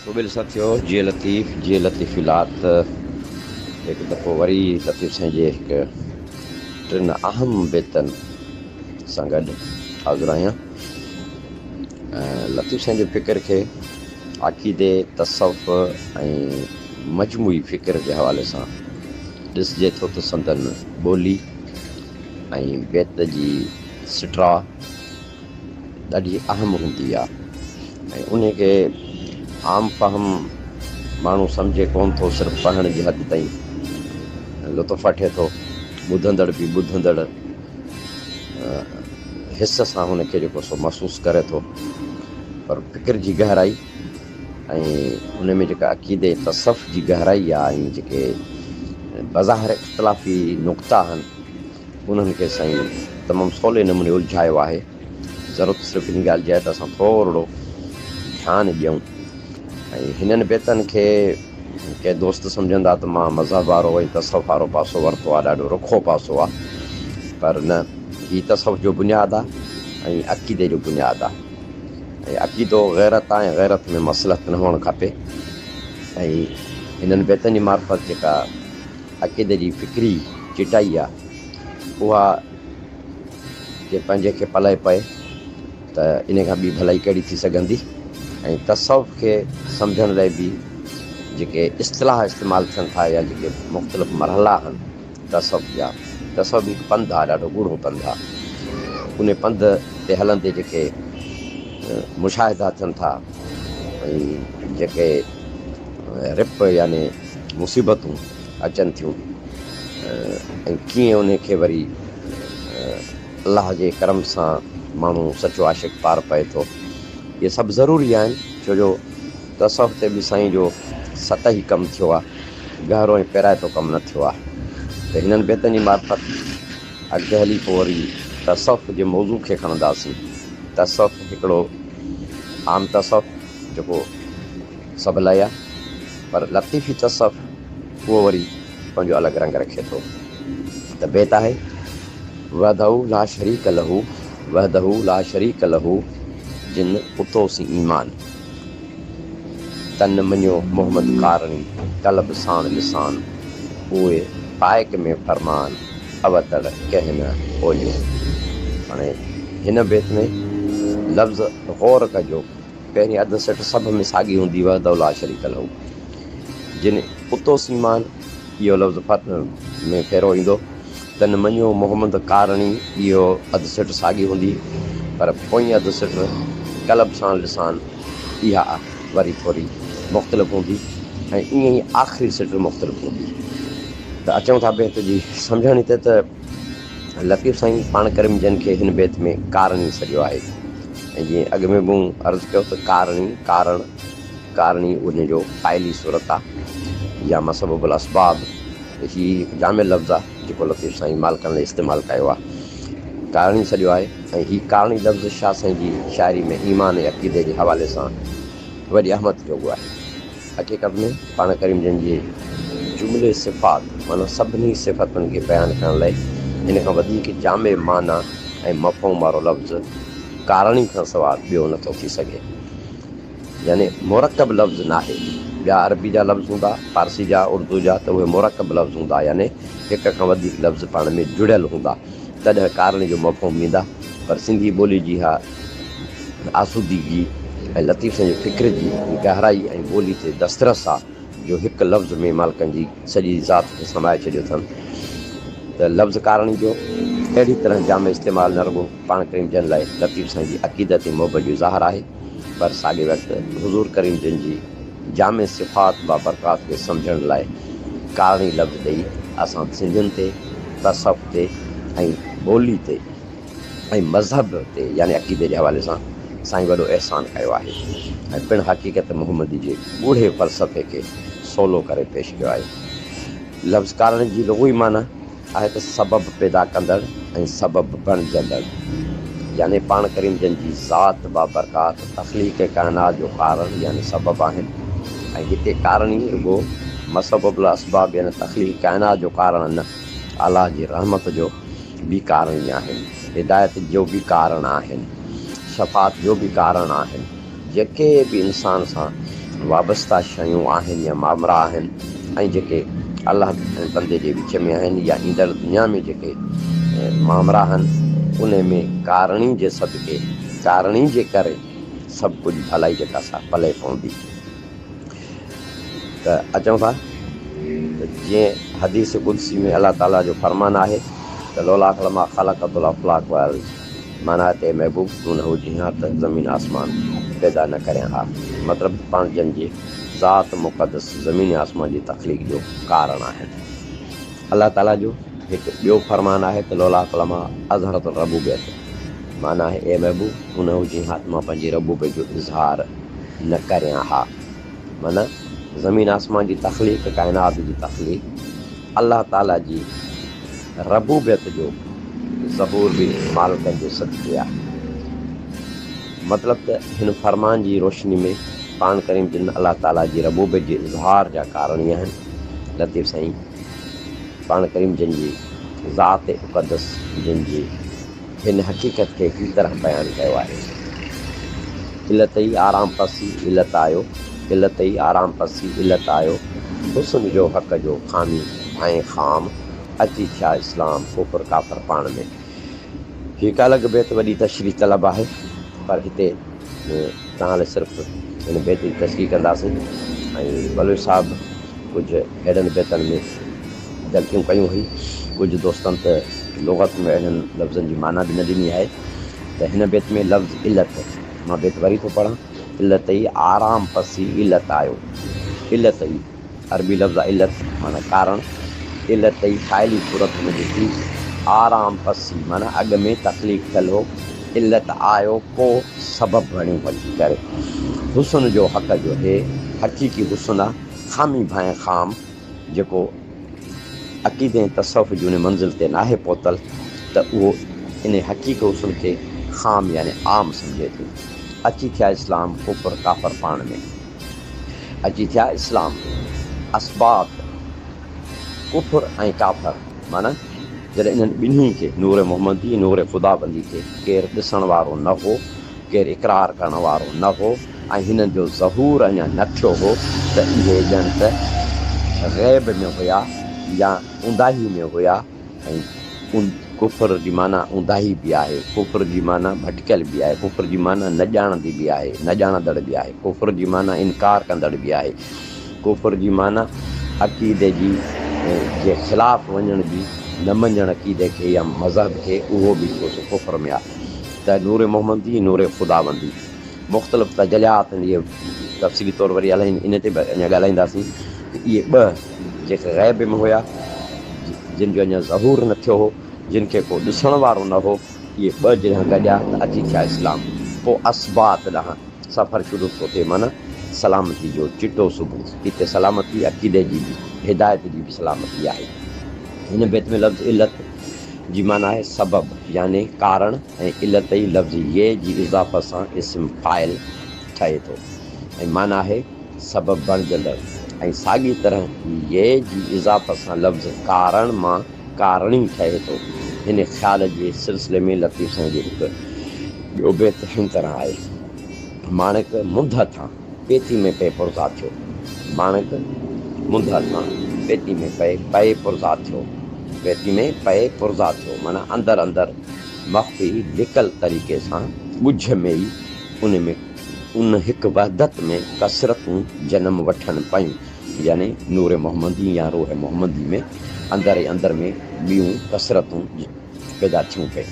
قبيل سان ٿيو جي لطيف جي لطيف لات هڪ دفعو وري لطيف سائين جي هڪ ٽن اهم بيتن سان گڏ حاضر آهيان ۽ لطيف سائين جي فڪر کي عقيدي تصوف ۽ مجموعي فڪر جي حوالي سان ڏسجي ٿو ته سندن ٻولي ۽ بيت جي سٽراء ڏاڍي اهم هوندي آهي ۽ انهي کي عام فهم ماڻهو سمجهي ڪونه ٿو صرف پڙهڻ جي حد تائين لطف وٺي ٿو ٻڌندڙ به ٻڌندڙ حس سان هن کي جيڪو سو محسوس ڪري ٿو پر فڪر جي گهرائي ۽ ان ۾ جيڪا عقيدي تصوف جي گهرائي آهي ۽ جيڪي بظاهر اختلافي نقطا آهن انهن کي سائين تمام سولي نموني الجهايو آهي ضرورت صرف ان ڳالهه جي آهي ته اسان ٿورڙو ڌيان ڏيون ۽ هنن بيتن کي ڪي دوست سمجهندا ته مان مذهب وارو ۽ تصوف وارو پاسو ورتو آهي ڏاڍو رکو پاسو آهي پر نه هي تصوف جو بنياد آهي ۽ عقيدي جو بنياد آهي ۽ عقيدو غيرت آهي ۽ غيرت ۾ مصلحت نه هئڻ کپي ۽ هنن بيتن جي معرفت جيڪا عقيدي جي فڪري چٽائي آ اها جي پنهنجي کي پلئه پئي ته ان کان ٻي ڀلائي ڪهڙي ٿي سگهندي ۽ تصوف کي سمجهڻ لاء به جيڪي اصطلاح استعمال ٿين ٿا يا جيڪي مختلف مرحلا آهن تصوف جا تصوف هڪ پنڌ آ ڏاڍو ڳوڙهو پنڌ آ ان پنڌ تي هلندي جيڪي مشاهدا ٿين ٿا ۽ جيڪي رپ يعني مصيبتون اچن ٿيون ۽ ڪيئن انهي کي وري الله جي ڪرم سان ماڻهو سچو عاشق پار پئي ٿو اهي سڀ ضروري آهن ڇو جو تصوف تي به سائين جو سطحي ڪم ٿيو آهي گهرو ۽ پيرائتو ڪم نه ٿيو آهي ته هنن بيتن جي معرفت اڳتي هلي پوء وري تصوف جي موضوع کي کڻنداسين تصوف هڪڙو عام تصوف جيڪو سڀ لاء آهي پر لطيفي تصوف اهو وري پنهنجو الڳ رنگ رکي ٿو ته بيت آهي وحده لا شريڪ له وحده لا شريڪ له جن اتو سين ايمان تن مڃيو محمد ڪارڻي قلب ساڻ لسان اوهي پائڪ ۾ فرمان اوتڙ ڪنهن نه اوليو هاڻي هن بيت ۾ لفظ غور ڪجو پهرين اڌ سٽ سڀ ۾ ساڳي هوندي وحده لا شريڪ له جن اتو سيمان اهو لفظ ڦر ۾ ڦيرو ايندو تن مڃيو محمد ڪارڻي اهو اڌ سٽ ساڳي هوندي پر پوئين اڌ سٽ قلب سان لسان اها وري ٿوري مختلف هوندي ۽ ايئن ئي آخري سٽ مختلف هوندي ته اچون ٿا بيت جي سمجهاڻي تي ته لطيف سائين پاڻ ڪريم جن کي هن بيت ۾ ڪارڻي سڏيو آهي ۽ جيئن اڳ ۾ به مون عرض ڪيو ته ڪارڻي، ڪارڻ، ڪارڻي ان جو فاعلي صورت آهي يا مسبب الاسباب هي هڪ جامع لفظ آهي جيڪو لطيف سائين مالڪان لاء استعمال ڪيو آهي. ڪارڻي سڏيو آهي ۽ هي ڪارڻي لفظ شاهه سائين جي شاعري ۾ ايمان ۽ عقيدي جي حوالي سان وڏي اهميت جوڳو آهي. حقيقت ۾ پاڻ ڪريم جن جي جملي صفات معنيٰ سڀني صفتن کي بيان ڪرڻ لاء ان کان وڌيڪ جامع معنيٰ ۽ مفهوم وارو لفظ ڪارڻي کان سواء ٻيو نه ٿو ٿي سگهي. يعني مرڪب لفظ ناهي. ٻيا عربي جا لفظ هوندا، فارسي جا، اردو جا ته اهي مرڪب لفظ هوندا يعني هڪ کان وڌيڪ لفظ پاڻ ۾ جڙيل هوندا تڏهن ڪارڻي جو مفهوم ڏيندا پر سنڌي ٻولي جي اها آسودگي ۽ لطيف سائين جي فڪر جي گهرائي ۽ ٻولي تي دسترس آ جو هڪ لفظ ۾ مالڪن جي سڄي ذات کي سمائي ڇڏيو اٿن ته لفظ ڪارڻي جو اهڙي طرح جامع استعمال نه رڳو پاڻ ڪريم جن لاء لطيف سائين جي عقيدت ۽ محبت جو اظهار آهي پر ساڳي وقت حضور ڪريم جن جي جامع صفات بابرڪات کي سمجهڻ لاء ڪارڻي لفظ ڏئي اسان سنڌين تي تصوف تي ۽ ٻولي تي ۽ مذهب تي يعني عقيدي جي حوالي سان سائين وڏو احسان ڪيو آهي ۽ پڻ حقيقت محمدي جي ڳوڙهي فلسفي کي سولو ڪري پيش ڪيو آهي. لفظ ڪارڻ جي لغوي معنيٰ آهي ته سبب پيدا ڪندڙ ۽ سبب بڻجندڙ يعني پاڻ ڪريم جن جي ذات بابرڪات تخليق ڪائنات جو ڪارڻ يعني سبب آهن ۽ هتي ڪارڻ ئي رڳو مسبب الاسباب يعني تخليق ڪائنات جو ڪارڻ نه الله جي رحمت جو به ڪارڻي آهن، هدايت جو به ڪارڻ آهن، شفاعت جو به ڪارڻ آهن، جيڪي به انسان سان وابسته شيون آهن يا مامرا آهن ۽ جيڪي الله ۽ بندي جي وچ ۾ آهن يا ايندڙ دنيا ۾ جيڪي مامرا آهن انهي ۾ ڪارڻي جي صدقي، ڪارڻي جي ڪري سڀ ڪجهه ڀلائي جي ڪا سا پلئه پوندي. ته اچو ٿا ته جيئن حديث قدسي ۾ الله تعاليٰ جو فرمان آهي ته لولاک لما خلقت الافلاک والارض معنيٰ ته اي محبوب تون نه هجين ها ته زمين آسمان پيدا نه ڪريان ها مطلب ته پاڻ جن جي ذات مقدس زمين ۽ آسمان جي تخليق جو ڪارڻ آهن الله تعاليٰ جو هڪ ٻيو فرمان آهي ته لولاک لما اظهرت الربوبيت معنيٰ اي محبوب تون نه هجين ها ته مان پنهنجي ربوبيت جو اظهار نه ڪريان ها. معنيٰ زمين آسمان جي تخليق، ڪائنات جي تخليق الله تعاليٰ جي ربوبيت جو ظهور به مالڪن جو صدقي آهي. مطلب ته هن فرمان جي روشني ۾ قرآن ڪريم جن الله تعاليٰ جي ربوبيت جي اظهار جا ڪارڻي آهن، لطيف سائين قرآن ڪريم جن جي ذات اقدس جن جي هن حقيقت کي هي طرح بيان ڪيو آهي، علت ئي آرام پسي علت آيو، علت ئي آرام پسي علت آيو، حسن جو حق جو خامي ۽ خام، اچي ٿيا اسلام ڪفر ڪافر پاڻ ۾. هي ڪالڳ بيت وڏي تشريح طلب آهي پر هتي توهان لاء صرف هن بيت جي تشريح ڪنداسين ۽ بلوچ صاحب ڪجهه اهڙن بيتن ۾ غلطيون ڪيون هئي ڪجهه دوستن ته لغت ۾ اهڙن لفظن جي معنيٰ به نه ڏني آهي ته هن بيت ۾ لفظ علت مان بيت وري ٿو پڙهان علت ئي آرام پسي علت آيو علت ئي عربي لفظ علت معنيٰ ڪارڻ، علت ئي فاعلي صورت هوندي ٿي، آرام پسي معنيٰ اڳ ۾ تخليق ٿيل هو، علت آيو ڪو سبب بڻيو وٺي ڪري. حسن جو حق جو هي حقيقي حسن آ، خامي ڀانء خام، جيڪو عقيدي ۽ تصوف جي انهي منزل تي ناهي پهتل ته اهو انهي حقيقي حسن کي خام يعني عام سمجهي ٿو. اچي ٿيا اسلام، ڪفر، ڪافر پاڻ ۾. اچي ٿيا اسلام اسباط ڪفر ۽ ڪافر معنيٰ جڏهن انهن ٻنهي کي نور محمدي نور خداوندي کي ڪير ڏسڻ وارو نه هو ڪير اقرار ڪرڻ وارو نه هو ۽ هنن جو ظهور اڃا نه ٿيو هو ته اهي ڄڻ ته غيب ۾ هيا يا اونداهي ۾ هيا ۽ ڪفر جي معنيٰ اونداهي به آهي، ڪفر جي معنيٰ ڀٽڪيل به آهي، ڪفر جي معنيٰ نه ڄاڻندي به آهي، نه ڄاڻندڙ به آهي، ڪفر جي معنيٰ انڪار ڪندڙ به آهي، ڪفر جي معنيٰ عقيدي جي جي خلاف وڃڻ به، نه مڃڻ عقيدي کي يا مذهب کي، اهو به هڪڙو سو ڪفر ۾ آهي ته نور محمدي ۽ نور خداوندي مختلف تجليات هوندي تفصيلي طور وري الائين ان تي به اڃا ڳالهائينداسين ته اهي ٻه جيڪي غيب ۾ هيا، جن جو اڃا ظهور نه ٿيو هو، جن کي ڪو ڏسڻ وارو نه هو، اهي ٻه جڏهن گڏيا ته اچي ٿيا اسلام. پوء اسباط ڏانهن سفر شروع ٿيو تي معنيٰ سلامتي جو چٽو صبح. هتي سلامتي عقيدي جي به، هدايت جي به سلامتي آهي. هن بيت ۾ لفظ علت جي معنيٰ آهي سبب يعني ڪارڻ ۽ علت ئي لفظ يئي جي اضافت سان اسم فاعل ٺهي ٿو ۽ معنيٰ آهي سبب بڻجندڙ ۽ ساڳي طرح يء جي اضافت سان لفظ ڪارڻ مان ڪارڻي ٺهي ٿو. هن خيال جي سلسلي ۾ لطيف سائين جو هڪ ٻيو بيت هن طرح آهي. ماڻڪ منڌ هٿان پيتي ۾ پئي پرزا ٿيو. ماڻڪ منڌ هٿان پيتي ۾ پئي پئي پرزا ٿيو. پيتي ۾ پئي پرزا ٿيو معنيٰ اندر اندر مخفي لڪل طريقي سان ڳجهه ۾ ئي ان ۾ ان هڪ وحدت ۾ ڪثرتون جنم وٺن پيون، يعني نور محمدي يا روح محمدي ۾ اندر ئي اندر ۾ ٻيون ڪثرتون پيدا ٿيون پئي.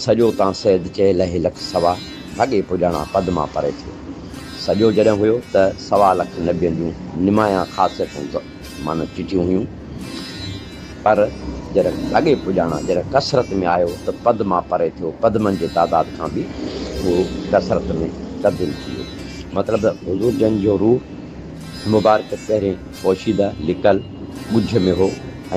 سڄو تان سيد چئي لهي لک سوا هڳي پڄاڻا پدما پري ٿيو. سڄو جڏهن هيو ته سوا لک نبين جون نمايان خاصيتون معنيٰ چٽيون هيون، پر جڏهن لڳي پڄاڻان جڏهن ڪثرت ۾ آيو ته پد مان پري ٿيو، پدمن جي تعداد کان به اهو ڪثرت ۾ تبديل ٿي ويو. مطلب حضور جن جو روح مبارڪ پهرين پوشيده، لڪل، ڳجهه ۾ هو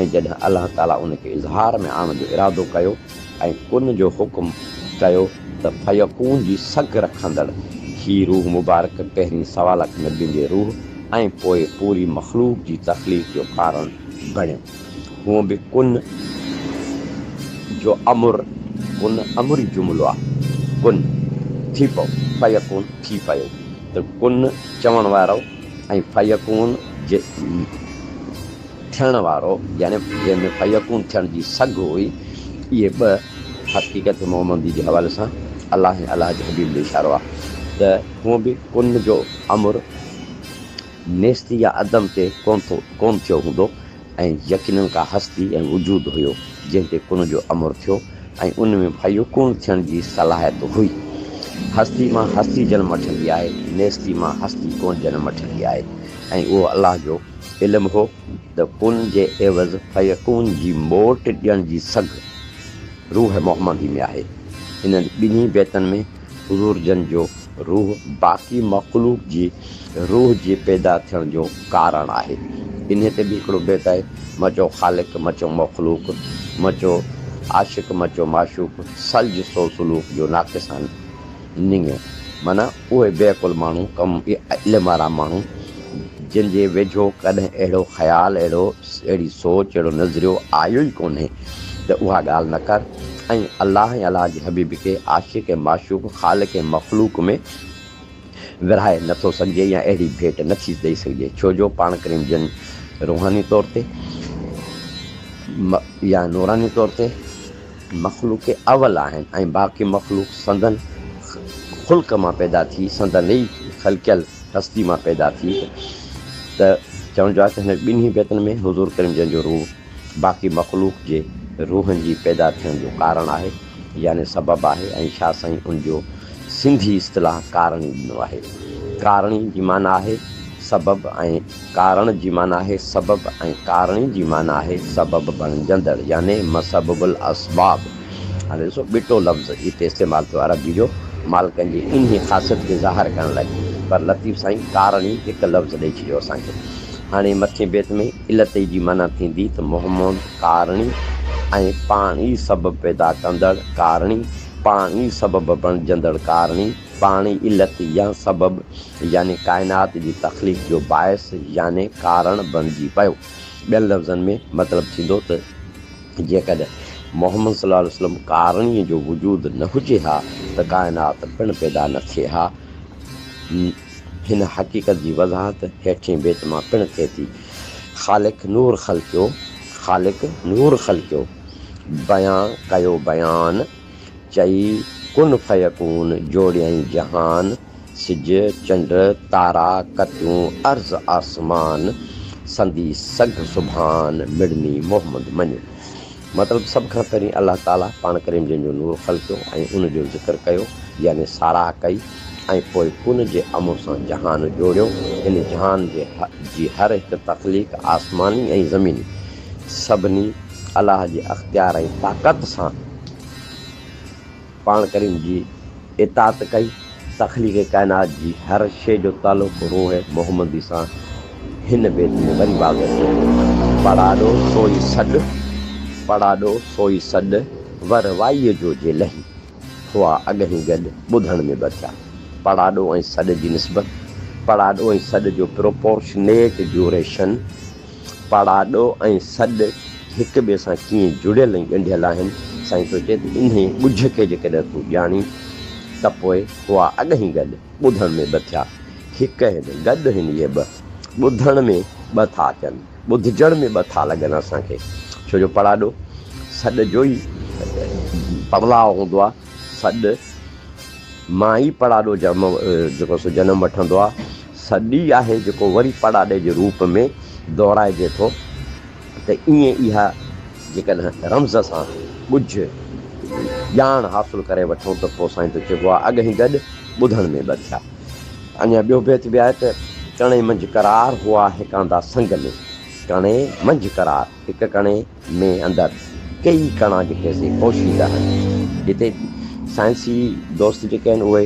۽ جڏهن الله تعاليٰ ان کي اظهار ۾ آڻڻ جو ارادو ڪيو، ۽ ان جو حڪم ڪيو ته فيڪون جي سگهه رکندڙ هي روح مبارڪ پهرين سوالخ نبين جي روح ۽ پوء پوري مخلوق جي تخليق جو ڪارڻ بڻيو. هونء به ڪن جو امر ڪن امري جملو آهي. ڪن، ٿي پئو، فيڪون، ٿي پيو، ته ڪن چوڻ وارو ۽ فيڪون جي. ٿيڻ وارو يعني جنهن ۾ فيڪون ٿيڻ جي سگهه هئي، اهي ٻه حقيقت محمدي جي حوالي سان الله ۽ الله جي حبيب ڏي اشارو آهي ته هونء به ڪن جو امر نيستي يا عدم تي ڪون ٿو ڪون ٿيو هوندو ۽ يقينن ڪا هستي ۽ وجود هيو جنهن تي ڪن جو امر ٿيو ۽ ان ۾ فيڪون ٿيڻ جي صلاحيت هئي هستي مان هستي جنم وٺندي آهي نيستي مان هستي ڪون جنم وٺندي آهي ۽ اهو الله جو علم هو ته پن جي عيوض فيڪون جي موٽ ڏيڻ جي سگهه روح محمدي ۾ آهي. انهن ٻنهي بيتن ۾ حضور جن جو روح باقي مخلوق جي روح جي پيدا ٿيڻ جو ڪارڻ آهي. انهي تي به هڪڙو بيت آهي، مچو خالق مچو مخلوق، مچو عاشق مچو معشوق، سلج سو سلوڪ جو ناقصان نڱيو. معنيٰ. اهي بي عقل ماڻهو ڪم علم وارا ماڻهو جن جي ويجهو ڪڏهن اهڙو خيال اهڙو اهڙي سوچ اهڙو نظريو آيو ئي ڪونهي ته اها ڳالهه نه ڪر ۽ الله ۽ الله جي حبيب کي عاشق ۽ معشوق خالق ۽ مخلوق ۾ ورهائي نه ٿو سگهجي يا اهڙي ڀيٽ نه ٿي ڏئي سگهجي ڇو جو پاڻ ڪريم جن روحاني طور تي يا نوراني طور تي مخلوق اول آهن ۽ باقي مخلوق سندن خلق مان پيدا ٿي، سندن ئي خلقيل هستي مان پيدا ٿي ته چوڻ جو آهي ته هن ٻنهي بيتن ۾ حضور ڪريم جن جو روح باقي مخلوق جي روحن جي پيدا ٿيڻ جو ڪارڻ آهي يعني سبب آهي ۽ شاهه سائين ان جو سنڌي اصطلاح ڪارڻي ڏنو آهي. ڪارڻي جي معنيٰ آهي سبب ۽ ڪارڻ جي معنيٰ آهي سبب ۽ ڪارڻي جي معنيٰ آهي سبب بڻجندڙ يعني مسبب الاسباب. هاڻي ڏسو ٻٽو لفظ هتي استعمال ٿيو عربيء جو مالڪن جي انهيء خاصيت کي ظاهر ڪرڻ لاء پر لطيف سائين ڪارڻي هڪ لفظ ڏئي ڇڏيو اسان کي. هاڻي مٿين بيت ۾ علتئي جي معنيٰ ٿيندي ته محمود ڪارڻي ۽ پاڻ ئي سبب پيدا ڪندڙ ڪارڻي پاڻ ئي سبب بڻجندڙ ڪارڻي. پاڻي علت يا سبب يعني ڪائنات جي تخليق جو باعث يعني ڪارڻ بڻجي پيو. ٻين لفظن ۾ مطلب ٿيندو ته جيڪڏهن محمد صلي الله عليه وسلم ڪارڻي جو وجود نه هجي ها ته ڪائنات پڻ پيدا نه ٿئي ها. هن حقيقت جي وضاحت هيٺين بيت مان پڻ ٿئي ٿي. خالق نور خلقيو خالق نور خلقيو بيان ڪيو بيان. چئي ڪن فيڪون جوڙيائين جهان، سج، چنڊ، تارا، ڪتيون، عرض آسمان، سندي سگهه سبحان، مڙني محمد مڃ. مطلب سڀ کان پهرين الله تعاليٰ پاڻ ڪريم جن جو نور خلقيو ۽ ان جو ذڪر ڪيو يعني ساراهه ڪئي ۽ پوء ڪن جي امر سان جهان جوڙيو، ان جهان جي هر هڪ تخليق آسماني ۽ زميني سڀني. الله جي اختيار ۽ طاقت سان پاڻ ڪريم جي اطاعت ڪئي. تخليق ڪائنات جي هر شيء جو تعلق روح محمدي سان هن بيت ۾ وري واضح ٿئي ٿو، پڙاڏو سوئي سڏ، پڙاڏو سوئي سڏ، ور وائيء جو جي لهي، هئا اڳهين گڏ، ٻڌڻ ۾ ٻه ٿيا. پڙاڏو ۽ سڏ جي نسبت، پڙاڏو ۽ سڏ جو پروپورشنيٽ ڊيوريشن، پاڙاڏو ۽ سڏ هڪ ٻئي سان ڪيئن جڙيل ۽ ڳنڍيل آهن، سائين ٿو چئي ته انهيء ڳجهه کي جيڪڏهن تون ڄاڻين ته پوء هئا اڳهين گڏ ٻڌڻ ۾ ٻه ٿيا، هڪ هن، گڏ هن اهي ٻه، ٻڌڻ ۾ ٻه ٿا اچن، ٻڌجڻ ۾ ٻه ٿا لڳن اسان کي، ڇو جو پاڙاڏو سڏ جو ئي پڙلاء هوندو آهي. سڏ، مائي پڙاڏو جم جيڪو سو جنم وٺندو آ، سڏ ئي آهي جيڪو وري پڙاڏي جي روپ ۾ دهرائجي ٿو ته ائين اها جيڪڏهن رمز سان ڳجهه ڄاڻ حاصل ڪري وٺون ته پوء سائين ته چئبو آ اڳهين گڏ ٻڌڻ ۾ ٻه ٿيا. اڃا ٻيو بيت به آهي ته، ڪڻي منجهه قرار هئا هڪاندا سنگ ۾، ڪڻي منجهه قرار، هڪ ڪڻي، ۾ اندر ڪيئي ڪڻا جيڪي اسين پوشيده آهن جتي سائنسي دوست جيڪي آهن اهي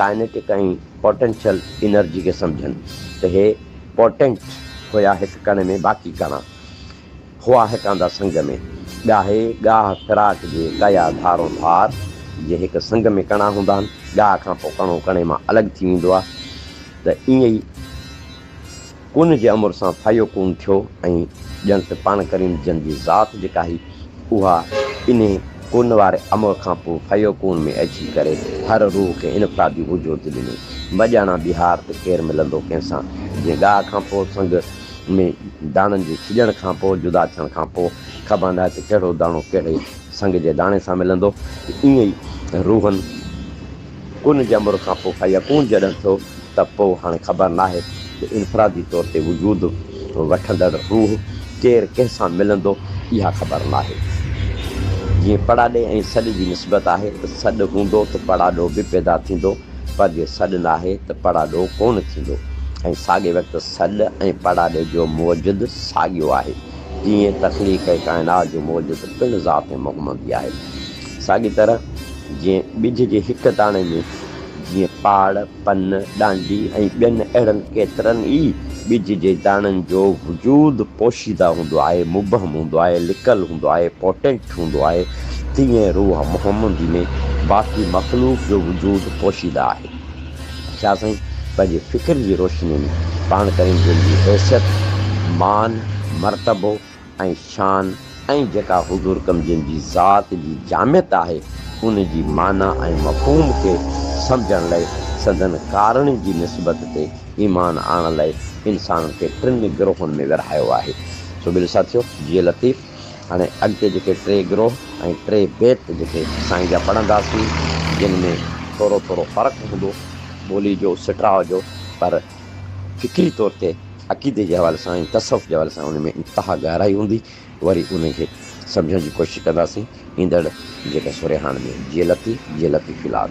ڪائنيٽڪ ۽ پوٽينشل انرجي کي سمجهن ته اهي پوٽينٽ هيا هڪ ڪڻي ۾ باقي ڪڻا هئا هيڪاندا سنگ ۾ ڳاهي ڳاهه فراق جي ڪيا ڌارون ڌار جي هڪ سنگ ۾ ڪڻا هوندا آهن ڳاهه کان پوء ڪڻو ڪڻي مان الڳ ٿي ويندو آهي ته ائين ئي ڪون جي امر سان فيڪون ٿيو ۽ ڄڻ ته پاڻ ڪريم جن جي ذات جيڪا هئي اها انهي ڪون واري امر کان پوء فيڪون ۾ اچي ڪري هر روح کي انفرادي وجود ڏني. مڄاڻا ٻهار ته ڪير ملندو ڪنهن سان جنهن ڳاهه کان پوء سنگ ۾ داڻن جي ڇڄڻ کان پوء جدا ٿيڻ کان پوء خبان آهي ته ڪهڙو داڻو ڪهڙي سنگ جي داڻي سان ملندو ته ايئن ئي روحن ڪن جمر کان پوء فيڪون جڏهن ٿيو ته پوء هاڻي خبر ناهي ته انفرادي طور تي وجود وٺندڙ روح ڪير ڪنهن سان ملندو اها خبر ناهي. جيئن پڙاڏي ۽ سڏ جي نسبت آهي ته سڏ هوندو ته پڙاڏو به پيدا ٿيندو پر جي سڏ ناهي ته پڙاڏو ڪونه ٿيندو ۽ ساڳئي وقت سڏ ۽ پڙاڏي جو موجد ساڳيو آهي تيئن تخليق ۽ ڪائنات جو موجد پڻ ذات محمدي آهي. ساڳي طرح جيئن ٻج جي هڪ داڻي ۾ جيئن پاڙ، پن، ڏانڊي ۽ ٻين اهڙن ڪيترن ئي ٻج جي داڻن جو وجود پوشيده هوندو آهي، مبهم هوندو آهي، لڪل هوندو آهي، پوٽينٽ هوندو آهي، تيئن روح محمدي ۾ باقي مخلوق جو وجود پوشيده آهي. شاهه سائين پنهنجي فڪر جي روشني ۾ پاڻ ڪريم جن جي حيثيت، مان، مرتبو، ۽ شان ۽ جيڪا حضور ڪمزين جي ذات جي جامعيت آهي ان جي معنيٰ ۽ مفهوم کي سمجهڻ لئه سندن ڪارڻي جي نسبت تي ايمان آڻڻ لئه انسانن کي ٽن گروهن ۾ ورهايو آهي سو ٻيلي ساٿيو جي لطيف هاڻي اڳتي جيڪي ٽي گروه ۽ ٽي بيت جيڪي سائين جا پڙهنداسين جن ۾ ٿورو ٿورو فرق هوندو ٻولي جو سٽراء جو پر فڪري طور تي عقيدي جي حوالي سان ۽ تصوف جي حوالي سان ان ۾ انتها گهرائي هوندي وري ان کي سمجهڻ جي ڪوشش ڪنداسين ايندڙ جيڪا سورهياڻ ۾ جي لطي جي لطيفي لاڳ.